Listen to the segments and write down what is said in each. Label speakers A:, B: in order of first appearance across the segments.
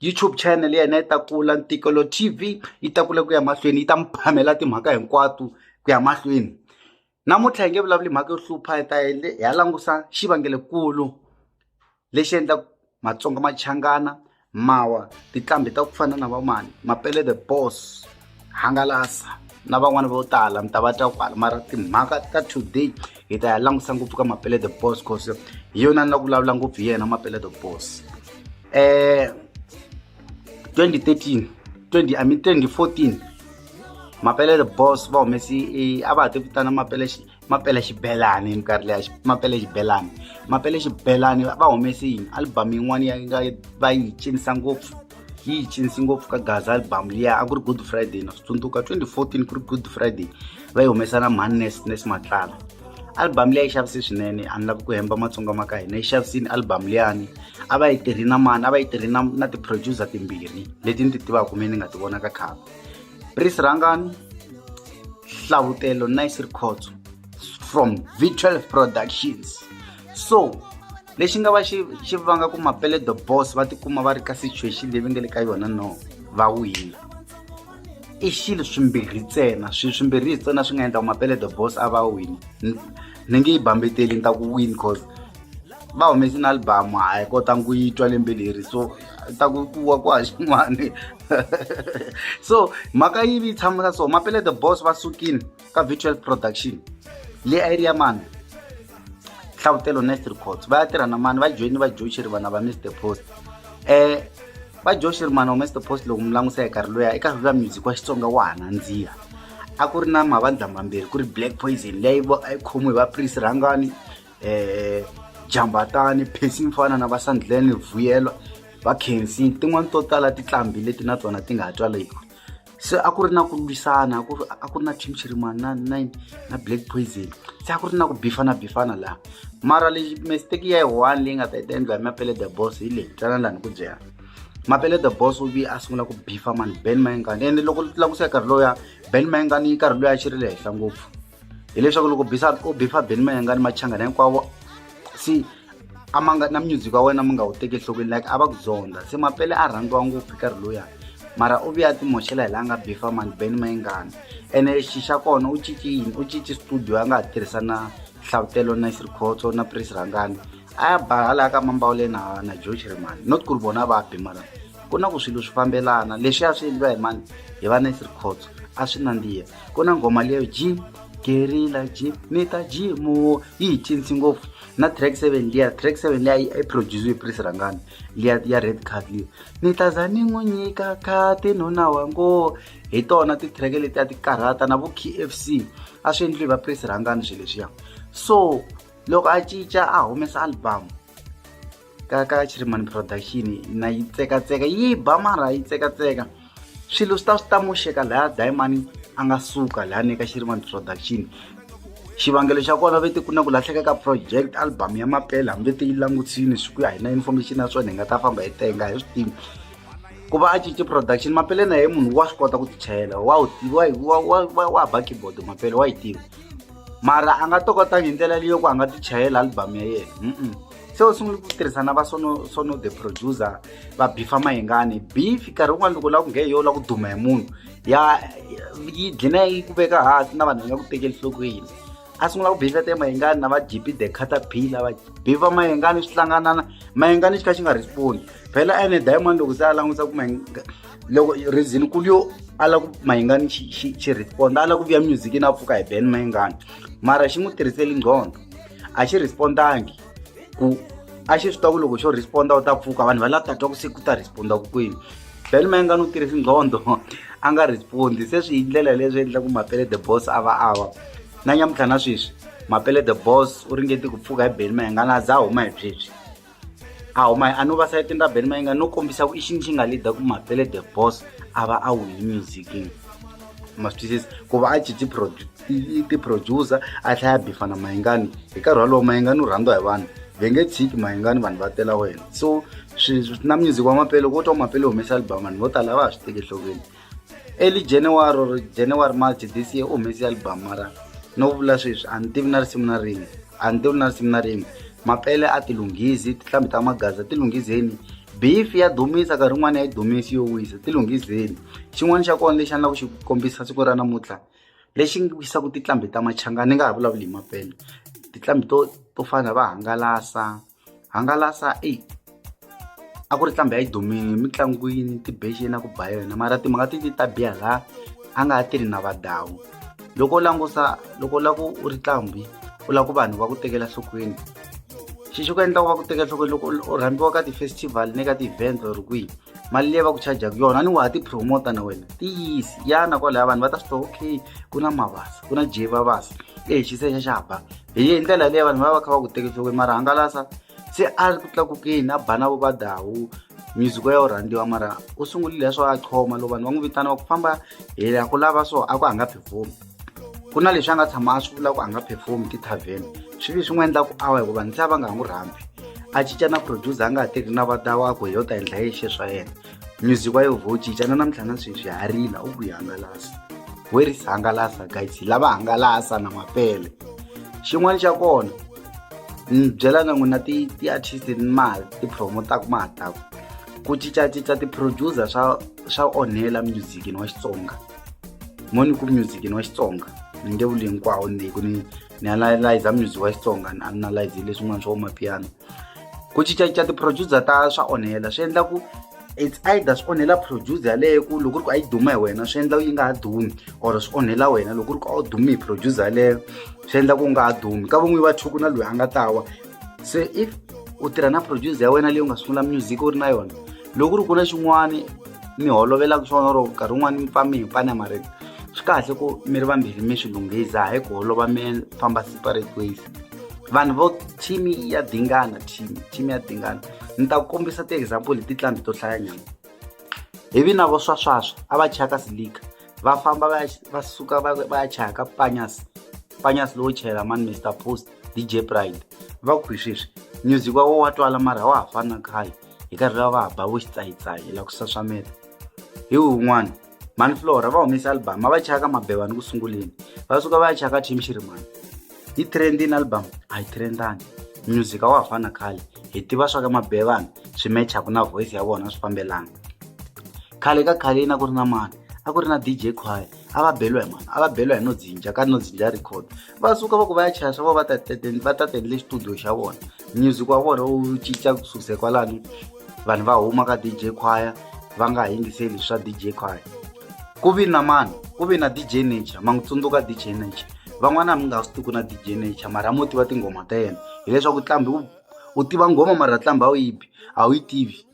A: YouTube channel ya hina yi ta kula ntikelo TV yi ta kula ku ya mahlweni yi ta mi phamela timhaka hinkwato ku ya mahlweni namuntlha hi nge vulavuli mhaka yo hlupha hi ta hi ya langusa xivangelekulu lexi endlaka matsonga machangana mawa tiqambi ta ku fana na vamani mapele the boss hangalasa na van'wana vo tala mi ta va twa kwala mara timhaka ta today hi ta ya langusa ngopfu ka mapele the boss cause hi yona ni la ku vulavula ngopfu hi yena mapele the boss um 2013 20 i mean 2014 mapele the boss va humesi a va ha ti vitana mapele mapele xibelani hi minkarhi leya mapele xibelani mapele xibelani va humese yini album yin'wana ya nga va yi cinisa ngopfu yi yi cinisi ngopfu ka gaza album liya a ku ri good friday na swi tsundzuka 2014 ku ri good friday va yi humesa na mannes nes matlala album liya yi xavise swinene a ni lavi ku hemba matsonga ma ka hina yi xavisini album liyani a va yi tirhi na mani a va yi tirhi na na ti-producer timbirhi leti ni ti tivaka me ni nga ti vona ka khale Pris Rangani Hlavutelo Nice Records from Virtual Productions so lexi nga va xi xi vanga ku mapele the boss va tikuma va ri ka situation leyi va nga le ka yona no va wina i xilo swimbirhi ntsena swi swimbirhi ntsena swi nga endla ku mapele the boss a va wini ni nge yi bambeteli ni ta ku win cause va humese na albamu a hi kotanga ku yi twa lembe leri so ta ku kuwa ku ha xin'wani so mhaka yivi yi tshamela so mapele the boss va sukile ka virtual production le a yi ri ya mani hlavutelo next records va ya tirha na mani va joyini va joe xirivana va mr post um va joe xirivana wa mr post loko mi langutisa hi karhi loya eka viva music wa xitsonga wa ha nandziha a ku ri na mavandla mambirhi ku ri black poison leyi a yi khomiwe hi va prince rhangani eh jambatani phesi mfana na vasandleni vuyelwa va khensi tin'wani to tala titlambi leti na tona ti nga twa leyiko se a ku ri na ku lwisana a ku ri a ku ri na team chirimani na na na black poison se a ku ri na ku bifana bifana laha mara lexi mistake ya yi one leyi nga ta yi ta endliwa hi mapele the boss hi leyi twana lani ku byela mapele the boss u vi a sungula ku bifa mani ben mayengani ende loko languseka nkarhi lowuya ben mayengani nkarhi loyi a xi ri le henhla ngopfu hileswaku loko bisa u bifa beni mayengani machangana hinkwavo si a ma nga na music wa wena mi nga wu teki enhlokweni like a va ku zonda se mapele a rhandziwa ngopfu karhi luyani mara u vuya timoxela hi laha nga bifa mani beni mayengani ene xi xa kona u cinci yini u cinci studio a nga ha tirhisa na hlavutelo na sirikhoto na pris rhangani a ya ba halaya ka mambawule na na george rimani not ku ri vona va bi mara ku na ku swilo swi fambelana leswi ya swi endliwa hi mani hi va na sirikhoto a swi nandziha ku na nghoma leyo jim gerila jim ni ta jimo yi hi cinci ngopfu na track seven liya track seven liya yi produciwe prise rangani liya ya red card liya ni ta za ni n'wi nyika khati nuna wa ngo hi tona ti-track leti a ti karhata na vo k f c a swi endliwi va prise rangani swilo leswiya so loko a cinca a humesa album ka ka chirimani production na yi tsekatseka yi ba mara yi tsekatseka swilo swi ta swi ta moxeka laya dayimani a nga suka laya ni ka chirimani production xivangelo xa kona vete ku na ku lahleka ka project album ya mapela hambi vete yi langutsini swi ku ya hi na information ya swona hi nga ta famba hi tenga hi swi tivi ku va a cince production mapele na ye munhu wa swi kota ku tichayela wa wu tiva wa wa wa wa ba keyboard mapele wa yi tiva mara a nga tokotanga hi ndlela leyo ku a nga tichayela album ya yena se u sungule ku tirhisana va sono sono the producer va bifa mahingani beef nkarhi wun'wana loko lava ku nghe yo lava ku duma hi munhu ya yi dlina yi ku veka hansi na vanhu va nga ku tekeli nhlokweni a sungula ku bifa te mahingani na va gp the caterpillar va bifa mahingani swi hlanganana mahingani xi kha xi nga respondi phela ene diamond loko se a languta ku mahinga loko reason kulu yo a lava ku mahingani xi xi xi responda a lava ku vuya music na pfuka hi ben mahingani mara xi n'wi tirhiseli nqhondo a xi respond-angi ku a xi swi twa ku loko xo respond-a u ta pfuka vanhu va la ta twa ku se ku ta respond-a ku kwini bel ma nga ni u tirhisi nqhondo a nga respond-i se swi hi ndlela leswi endla ku mapele the boss a va a va na nyamutlha na sweswi mapele the boss u ringeti ku pfuka hi bel ma nga na za huma hi byebyi a huma a no va sayitini ra beni mayinga no kombisa ku i xini xi nga lida ku mapele the boss a va a wini musicini ma swi twisisa ku va a cinci ti-producer a hlaya bifana mayingani hi nkarhi walowo mayingani u rhandziwa hi vanhu ve nge tshiki mayingani vanhu va tela wena so na music wa mapele loko wo twa mapele humesa album vanhu vo tala a va ha swi teki enhlokweni Early January or January March this year u humese album mara no vula sweswi a ni tivi na risimu na rin'we a ni tivi na risimu na rin'we mapele a ti lunghisi tinhlambi ta magaza ti lunghizeni beef ya dumisa nkarhi wun'wana ya yi dumisi yo wisa ti lunghizeni xin'wana xa kona lexi a ni lava ku xi kombisa siku ra namuntlha lexi ngi wisaka tinhlambi ta machanga ni nga ha vulavuli hi mapele tinhlambi to to fana va hangalasa hangalasa i a ku ri ntlhambi ya yi dumile mitlangwini tibexeni na ku ba yona mara ti mhaka ti ti ta biha laha a nga ha tirhi na vadawu loko u langusa loko u lava ku u ri ntlhambi u lava ku vanhu va ku tekela nhlokweni xi xi ku endla ku va ku teka nhlokweni loko u rhambiwa ka ti-festival ni ka ti-event or kwihi mali leyi va ku charjaku yona ni wa ha ti-promota na wena ti yisi yana kwalaya vanhu va ta swi tiva okay ku na mavasa ku na jevavasa e xise xa xa ba hi ndlela leyi vanhu va va kha va ku teka enhlokweni mara hangalasa se a ri ku tlakukeni a bana vo va dawu music ya yo rhandziwa mara u sungulile ya swo a choma loko vanhu va n'wi vitana va ku famba hi ya ku lava so a ku a nga perform ku na leswi a nga tshama a swi vula ku a nga perform ti-tarven swi vi swi n'wi endla ku awa hikuva vanhu se a va nga ha n'wi rhambi a cinca na producer a nga ha tirhi na vadawa a ku hi yo ta endla yexi swa yena music wa yo vo cinca na namuntlha na sweswi ha rila u ku yi hangalasa weris hangalasa guys hi lava hangalasa na mapele xin'wana xa kona ni byelaka n'wina ti-artist ni ma ti-promotaka ma ha taku ku cincacinca ti-producer swa swa onhela musicini wa xitsonga mo ni ku musicini wa xitsonga ni nge vuli hinkwawo ni ku ni ni analyza music wa xitsonga ni analyze leswin'wana swa vo mapiano ku cincacinca ti-producer ta swa onhela swi endla ku it's either swi onhela producer yaleyo ku loko ku ri ku a yi duma hi wena swi endla yi nga ha dumi or swi onhela wena loko ku ri ku a wu dumi hi producer yaleyo swi endla ku nga ha dumi ka van'wini va thuku na loyi a nga ta wa se if u tirha na producer ya wena leyi u nga sungula music u ri na yona loko ku ri ku na xin'wana mi holovelaka swona or nkarhi wun'wana mi pfa mi hi pani ya marito swi kahle ku mi ri vambirhi mi swi lunghisa hi ku holova mi famba separate ways vanhu vo team ya dingana team team ya dingana ni ta kombisa ti-example hi titlandi to hlayanyana hi vina vo swaswaswa a va chaya ka silika va famba va va suka va va ya chaya ka panyas panyas lowo chayela mani mister post dj pride va ku hi sweswi music wa wo wa twala mara wa ha fana khale hi karhi va va ha ba vo xitsayitsayi la ku saswamela hi wun'wana mhani flora va humese album a va chaya ka mabeva ni ku sunguleni va suka va ya chaya ka team xirimani yi trendini album a yi trendani music a wa ha fana khale hi tiva swa ka mabevana swi mechaku na voice ya vona swi fambelana khale ka khale yina ku ri na mani a ku ri na dj choir a va beliwa hi mani a va beliwa hi no dzinja ka no dzinja record va suka va ku va ya chaya swa vona va ta tendle xitudio xa vona music wa vona wu cinca ku susa kwalani vanhu va huma ka dj choir va nga ha yingiseli swa dj choir ku vi na mani ku vi na dj nature ma n'wi tsundzuka dj nature van'wana mi nga swi tiku na dj nature mara mo tiva tinghoma ta yena hileswaku tlambi u tiva nghoma mara tlambi a wu yi bi a wu yi tivi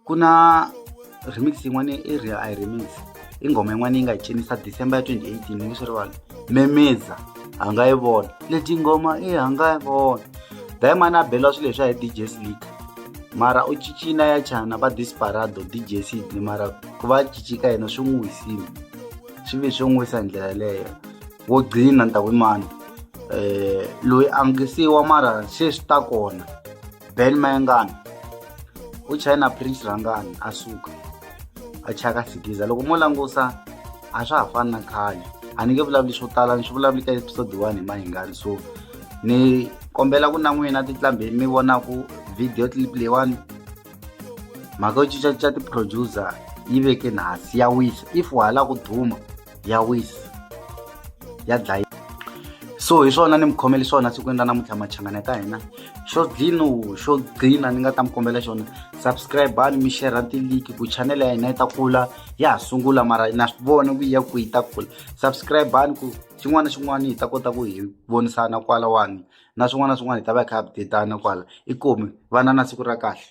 A: ku na remix yin'wana i real i remix i nghoma yin'wana yi nga yi cinisa december ya 2018 ni nge swi rivala memeza a nga yi vona leti nghoma i a nga yi vona dayimani a beliwa swilo leswiya hi dj slika mara u cicina ya chana va disparado dj sidney mara ku va cicika yena swi n'wi wisile swi ve swi n'wi wisa hi ndlela yeleyo wo gcina ni ta ku imani um eh, loyi a ngisiwa mara se swi ta kona ben mayengana u china prince rangani a suka a chaka sigiza loko mo langusa a swa ha fani na khale a ni nge vulavuli swo tala ni swi vulavuli ka episode one hi mahingani so ni kombela ku na n'wina titlambheni mi vonaku video clip leyiwani mhaka yo cincacinca ti-producer yi veke nasi ya wisa if wa ha la ku duma ya wisa ya dlaya so hi swona ni mi khomele swona siku endla namuntlha machangana ka hina xo dlino xo gcina ni nga ta mi kombela xona subscribe ani mi share tiliki ku chanele ya hina yi ta kula ya ha sungula mara na swi vona ku ya ku yi ta kula subscribe ani ku xin'wana na xin'wana hi ta kota ku hi vonisana kwalawani na swin'wana na swin'wana hi ta va hi kha hi updatana kwala i komi vana na siku ra kahle